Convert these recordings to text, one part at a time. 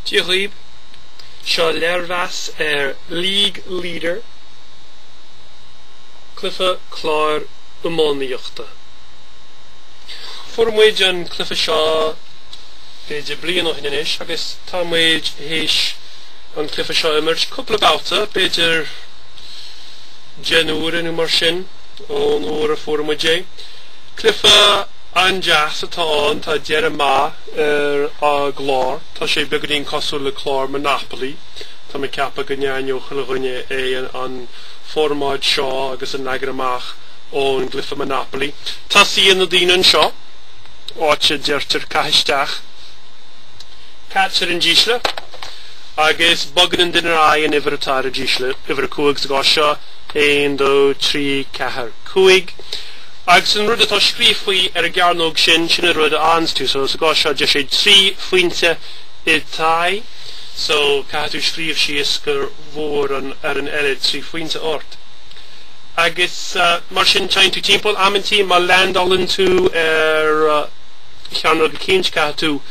Dia dhaoib! Seo léirmheas ar League Leader, cluife cláir iománaíochta. Fuair muid an cluife seo b'fhéidir bliain ó shin anois agus tá muid théis an cluife seo a imirt cúpla babhta, b'fhéidir deich n-uaire nó mar sin ón uair a fuair muid é. Cluife. An-deas atá ann, tá dearadh maith ar a' gclár, tá sé beagáinín cosúil le clár Monopoly, tá mé ag ceapadh go n-aithneodh chuile dhuine é, an formáid seo agus an leagan amach ón gcluife Monopoly. Tosaíonn na daoine anseo, áit a deirtear caith isteach, caitear an dísle, agus bogann an duine ar aghaidh an uimhir atá ar a dísle, uimhir a cúig sa gcás seo, aon, dó, trí, ceathair, cúig. Agus an rud atá scríofa ar an gcearnóg sin, sin an rud a fhaigheanns tú. So sa gcás seo, deir sé trí phointe i t'aghaidh, so caithfidh tú scríobh síos go bhfuair an fhoireann eile trí phointe ort. Agus mar sin, téann tú timpeall. Amantaí, má leaindeálann tú ar chearnóg eicínt, caithfidh tú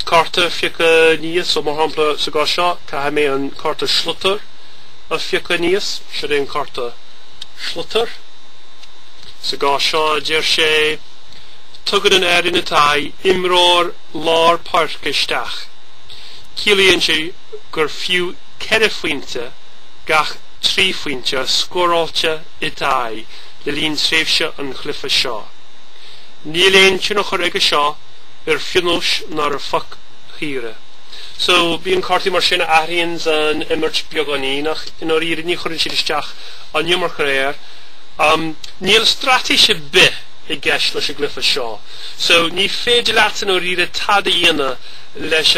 cárta a phiocadh aníos, so mar shampla sa gcás seo, caithfidh mé an cárta sliotair a phiocadh aníos, siod é an cárta sliotair. Sa gcás seo, deir sé, tugann an fhoireann i t'aghaidh imreoir lár páirce isteach, ciallaíonn sé gur fiú ceithre phointe gach trí phointe scóráilte i t'aghaidh le linn tréimhse an chluife seo. Níl aon tionchar aige seo ar phionóis ná ar phoic shaora. So, bíonn cártaí mar sin a athraíonns an imirt beagáinín ach i ndáiríre ní chuireann siad isteach an iomarca air. Níl straitéis ar bith i gceist leis an gcluife seo so ní féidir leat i ndáiríre tada a dhéanamh leis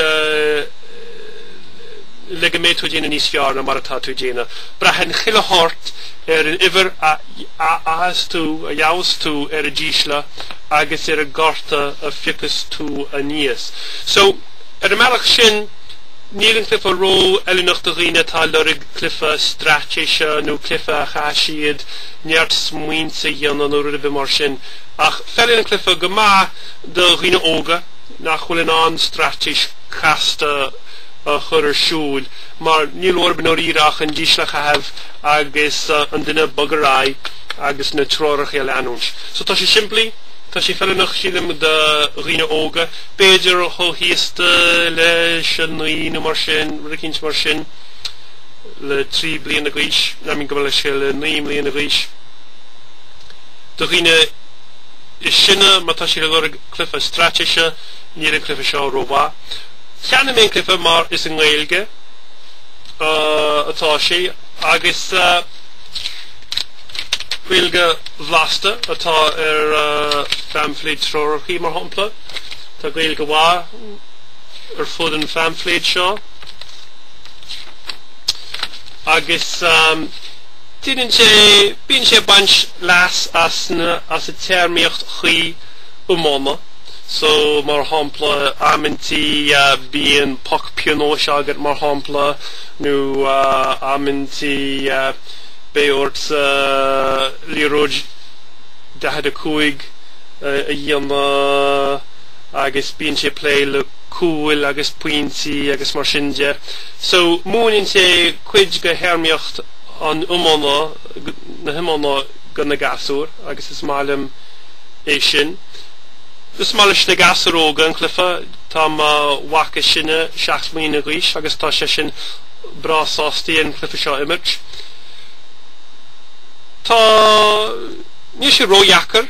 le go mbeidh tú ag déanamh níos fearr ná mar atá tú ag déanamh. Braitheann chuile shórt ar an uimhir a fhaigheas tú, a gheabhas tú ar an dísle agus ar an gcárta a phiocas tú aníos. So, ar an mbealach sin, níl an cluife ró-fheiliúnach do dhaoine atá ag lorg cluife straitéise nó cluife a chaithfidh siad neart smaointe a dhéanamh nó rud ar bith mar sin ach feileann an cluife go maith do dhaoine óga nach bhfuil in ann straitéis casta a chur ar siúl mar níl orthub i ndáiríre ach an dísle a chaitheamh agus an duine a bhogadh ar aghaidh agus na treoracha a leanúint. So tá sé simplí, tá sé feiliúnach sílim do dhaoine óga, b'fhéidir chomh haosta leis an naoi nó mar sin, rud eicínt mar sin. le trí bliana d'aois, ná mar go mbeadh sé le naoi mbliana d'aois. Do dhaoine is sine, má tá sé ag lorg cluiche straitéise, níl an cluiche seo rómhaith. Cheannaigh mé an cluiche mar is i nGaeilge atá sé agus Gaeilge bhlasta atá ar phaimfléid treoracha mar shampla. Tá Gaeilge mhaith ar fud an phaimfléid seo. Agus déanann sé, bíonn sé ag baint leas as na, as an téarmaíocht chuí iomána. So, mar shampla, amantaí bíonn poc pionóis agat, mar shampla, nó amantaí beidh ortsa liathróid 45 a dhéanamh agus bíonn sé ag plé le, cúil agus pointí agus mar sin de. So, múineann sé cuid de théarmaíocht an iomána, na hiomána do na gasúir agus is maith liom é sin. Is maith leis na gasúir óga an cluiche, tá mo mhac is sine seacht mbliana d'aois agus tá seisean breá sásta an cluiche seo a imirt. Tá, níl sé ródheacair.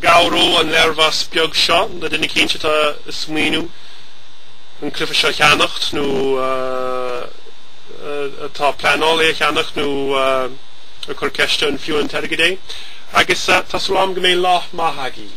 Go gcabhróidh an léirmheas beag seo le duine éicint atá ag smaoineamh an cluiche seo a cheannacht nó atá ag pleanáil é a cheannacht nó ag cur ceiste an fiú an t-airgead é agus tá súil agam go mbeidh lá maith agaibh.